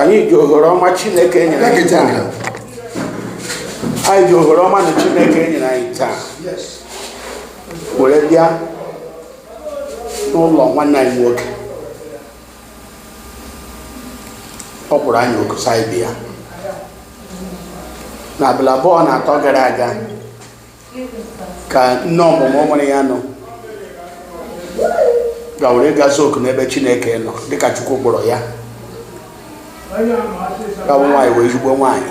anyị ji ohere ọma chineke nyere anyị taa anyị ji ohere ọma na chineke nyere anyị taa were bịa n'ụlọ nwanne anyị nwoke ọ kpọrọ anyị oku sị anyị bịa n'abalị abụọ na atọ gara aga ka nne ọmụmụ nwere ya nọ gawere ịga za oku n'ebe chineke nọ dịka chukwu kpọrọ ya ka wụ nwaanyị wụ ezigbo nwaanyị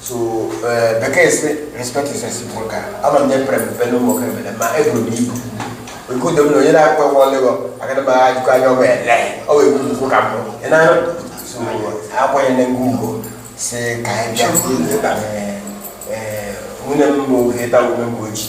so eh, bekee si respect is reciprocal ama m onye pere mpe n'ụmụ oke mere ma eburu m ibu oke udo m na onye na-akpọ ụgwọ ọlụgọ agada m agha jikọ anya ọgwa ele ọ wee buru ukwu ka mbụ ị na so akwanyere gị ugwu si ka anyị bịa Eh, eh, nwunye m bụ heta ume mgbe oji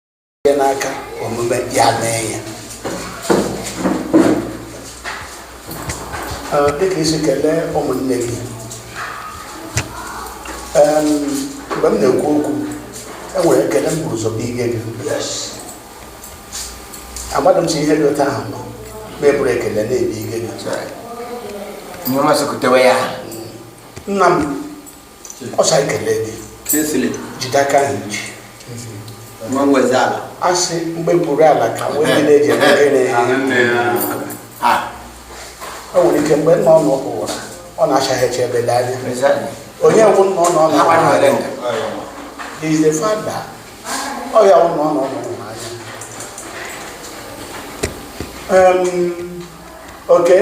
ihe n'aka omume ya mee ya Ee, dịka i si kelee ụmụnne gị Em, mgbe m na-ekwu okwu enwere ekele m buru ụzọ bụ ige gị amadị m si ihe dị otu ahụ nọ ma eburu ekele na-ebi ige gị Nye ọma sokotewe ya. nna m ọ sị anyị kelee gị Kingsley jide aka ahụ ji nwa nwezi ala a sị mgbe buru ala ka mgbe ndị na-eji eme gịnị a o nwere ike mgbe nna ọnụ ụwa ọ na-achaghịchi ebe dị anya onye wụ nna ọnụ ọnụ Agbanụ ụwa Elenga. is the father ọ ya wụ nna ọnụ ọnụ ụwa anya Em, okay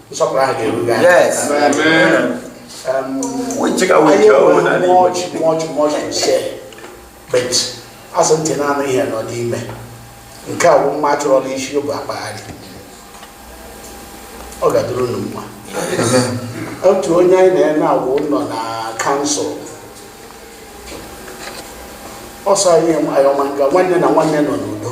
nsọpụrụ ahụ ga-eru gị anya. Yes. Um, We take away anyị your own enweghị and much much much to say but a sị ntị na-anụ ihe nọ n'ime nke a bụ mma a chọrọ n'isi bụ akpagharị ọ ga-adịrị unu mma otu onye anyị na-eme agwa nọ na council ọ sị anyị ihe ọma nga nwanne na nwanne nọ n'udo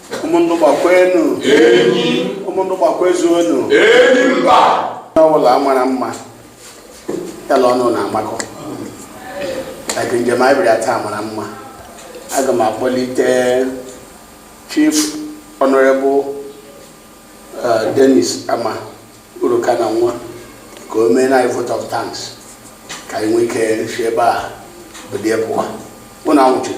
umundugba kwenu enyi umundugba kwezuonu enyi mba n'ọbụla mara mma ya la ọlụla amakọ like njem anyị bịara taa mara mma aga m akpọlite chief honorable eh, dennis ama uruka na nwa ka o meere anyị vote of thanks ka anyị nwee ike si ebe a bilie pụwa unu anwụchule